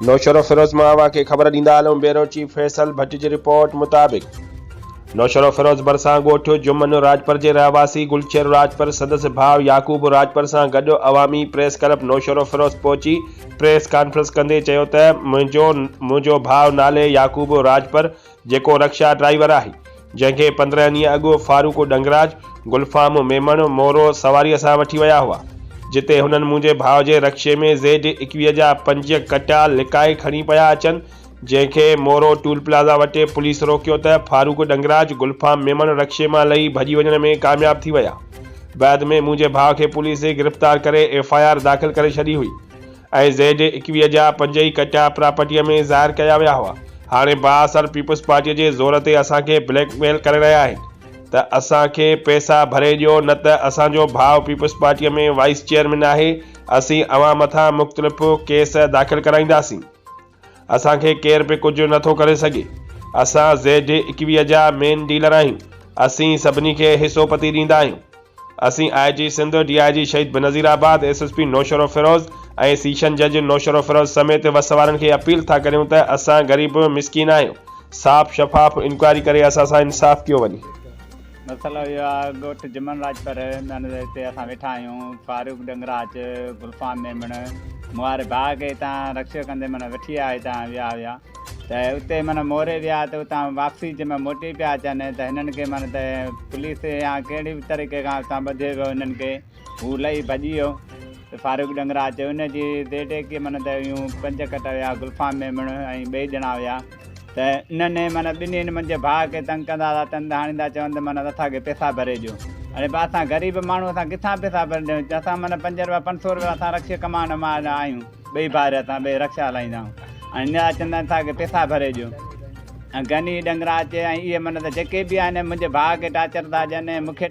نوشهروفيروز مان اوهان کي خبر ڏيندا هلون بيورو چيف فيصل ڀٽ جي رپورٽ مطابق نوشهروفيروز ڀرسان ڳوٺ جمن راڄپر جي رهواسي گلچهر راڄپر سندس ڀاء يعقوب راڄپر سان گڏ عوامي پريس ڪلب نوشهروفيروز پهچي پريس ڪانفرنس ڪندي چيو ته منهنجو منهنجو ڀاء نالي يعقوب راڄپر جيڪو رڪشا ڊرائيور آهي، جنهن کي پندرهن ڏينهن اڳ فاروق ڏنگراج، گلفام ميمڻ، مورو سواريء سان وٺي ويا هئا، جتي هنن منهنجي ڀاء جي رڪشي ۾ زيڊ ايڪويهه جا پنج ڪٽا لڪائي کڻي پيا اچن، جنهن کي مورو ٽول پلازا وٽ پوليس روڪيو ته فاروق ڏنگراج، گلفام ميمڻ رڪشي مان لهي ڀڄي وڃڻ ۾ ڪامياب ٿي ويا. بعد ۾ منهنجي ڀاء کي پوليس گرفتار ڪري ايف آء آر داخل ڪري ڇڏي هئي. ۽ زيڊ ايڪويهه جا پنج ئي ڪٽا پراپرٽيء ۾ ظاهر ڪيا ويا هئا. هاڻي بااثر پيپلز پارٽيء جي زور تي اسان کي بليڪ ميل ڪري رهيا آهن ته اسان کي پئسا ڀري ڏيو نه ته اسان جو ڀاء پيپلز پارٽيء ۾ وائيس چيئرمين آهي، اسين اوهان مٿان مختلف ڪيس داخل ڪرائينداسين. اسان کي ڪير به ڪجهه نه ٿو ڪري سگهي. اسان زيڊ ايڪويهه جا مين ڊيلر آهيون. اسين سڀني کي حصو پتي ڏيندا آهيون. اسين آء جي Sindh, D I G Shaheed Benazirabad, S S P Naushahro Feroze ۽ session جج نوشهروفيروز سميت وس وارن کي اپيل ٿا ڪريون ته اسان غريب مسڪين آهيون. صاف شفاف انڪوائري ڪري اسان سان انصاف ڪيو وڃي. مسئلو اهو آهي ڳوٺ جمن راڄپر ۾ هتي اسان ويٺا آهيون فاروق ڏنگراچ گلفام ميمڻ مون واري ڀاء کي هتان رڪشو ڪندي معنيٰ وٺي آيا هتان ويا هيا ته اتي معنيٰ موري ويا ته اتان واپسي جي معنيٰ موٽي پيا اچن ته هنن کي معنيٰ ته پوليس يا ڪهڙي به طريقي کان اتان ٻڌي ويو هنن کي هو لهي ڀڄي ويو ته فاروق ڏنگرا اچي ان جي ديٽيڪي من ته يون پنج ڪٽ ويا گلفام ميمڻ ۽ ٻئي ڄڻا ويا ته انهن من ٻنهين منجهه ڀاء کي تنگ ڪندا هئا تن ته هاڻيندا چون ته من اٿا کي پيسا ڀري ڏيو اڙي با اسان غريب ماڻهو اسان ڪٿان پيسا ڀري ڏيون اسان من پنج روپيا پنج سو روپيا اسان رڪشي ڪمائڻ مال آهيون ٻئي ڀائر اسان ٻئي رڪشا هلائيندا آهيون هاڻيندا چون ته اٿا کي پيسا ڀري ڏيو ۽ گني ڏنگرا اچي ۽ اهي من ته جيڪي به آهن منهنجي ڀاء کي ٽاچر ٿا ڏين ۽ مون کي